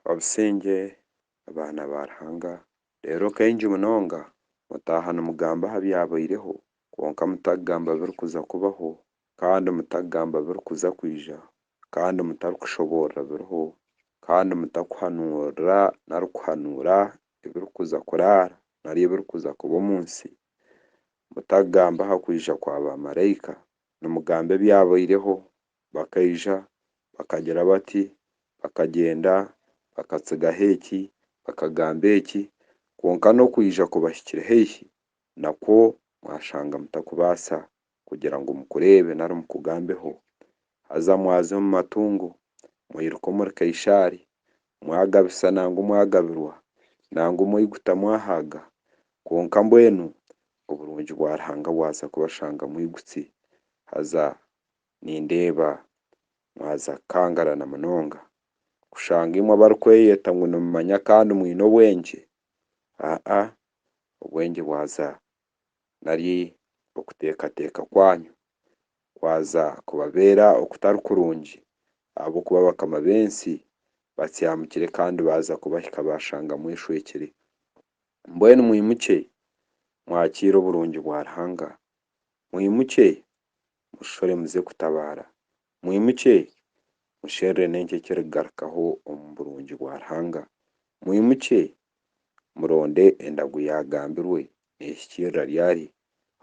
Obusingye, abaana ba Ruhanga. Reero kaingi munonga mutaaha nimugamba aha byabaireho, kwonka mutakugamba birikuza kubaho, kandi mutakugamba birikuza kwija, kandi mutarikushoboorora biriho, kandi mutakuhanuurira nari kuhanuura ebirikuza kuraara nari ebirikuza kuba omu nsi. Mutakugamba aha kwija kwa baamaraika, nimugamba ebyabaireho, bakaija, bakagira bati, bakagyenda, bakatsigaho eki, bakagamba eki, kwonka n'okwija kubahikire haihi nakwo mwashanga mutakubaasa kugira ngu mukureebe nari mukugambeho, haza mwaza omu matungo, mwiruka omuri Kaishaari, mwagabisa nangwa mwagabirwa, nangwa omwiguta mwahaaga, kwonka mbwenu oburungi bwa Ruhanga bwaza kubashanga mwigutsi, haza Nindeeba mwaza kukangarana munonga kushanga imwe abarikweyeta ngu nimumanya kandi mwine obwengye, aa obwengye bwaza nari okuteekateeka kwanyu kwaza kubabeera okutari kurungi ahabw'okuba abakama b'ensi batsihamukire kandi baaza kubahika baashanga mweshwekire. Mbwenu mwimukye mwakiire oburungi bwa Ruhanga, mwimukye mushishore muze kutabaara. Mwimukye, musherure n'enki ekirikugarukaho omu burungi bwa Ruhanga. Mwimukye, muronde endagu yaagambirwe neehikiirira ryari,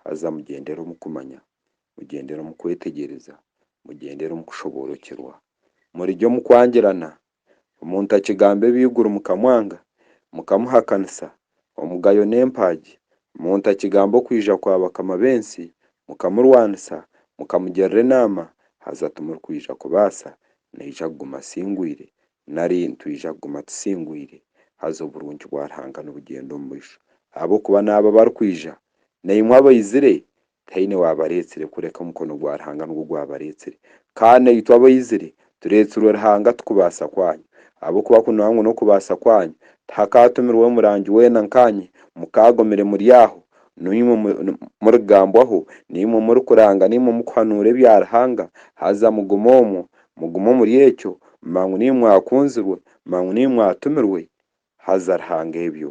haza mugyendere omu kumanya, mugyendere omu kwetegyereza, mugyendere omu kushoboorokyerwa. Murigye omu kwangirana, Omuntu akigamba ebyaiguru mukamwanga, mukamuhakanisa, omugayo n'empaagi, omuntu akigamba okwija kwa bakama b'ensi, mukamurwanisa, mukamugirira enaama, haza timurikwija kubaasa, naija kuguma asingwire, nari nitwija kuguma tusingwire, haza oburungi bwa Ruhanga nibugyenda omu maisho. Ahabw'okuba n'abo abarikwija, naimwe abaizire, Tihaine waabareetsire kureka omukono gwa Ruhanga nigwo gwabareetsire. Ka naitwe abaizire tureetsirwe Ruhanga tikubaasa kwanyu. Ahabw'okuba kunoha ngu n'okubaasa kwanyu, tihakaatumirweho murangi weena nkanye, mukaagumire muri aho, naimwe murigambwaho, naimwe murikuranga, naimwe mukuhanuura ebya Ruhanga, haza mugume omwo, mugume omuri ekyo, manya ngu naimwe mwakunzirwe, manya ngu naimwe mwatumirwe, haza Ruhanga ebyo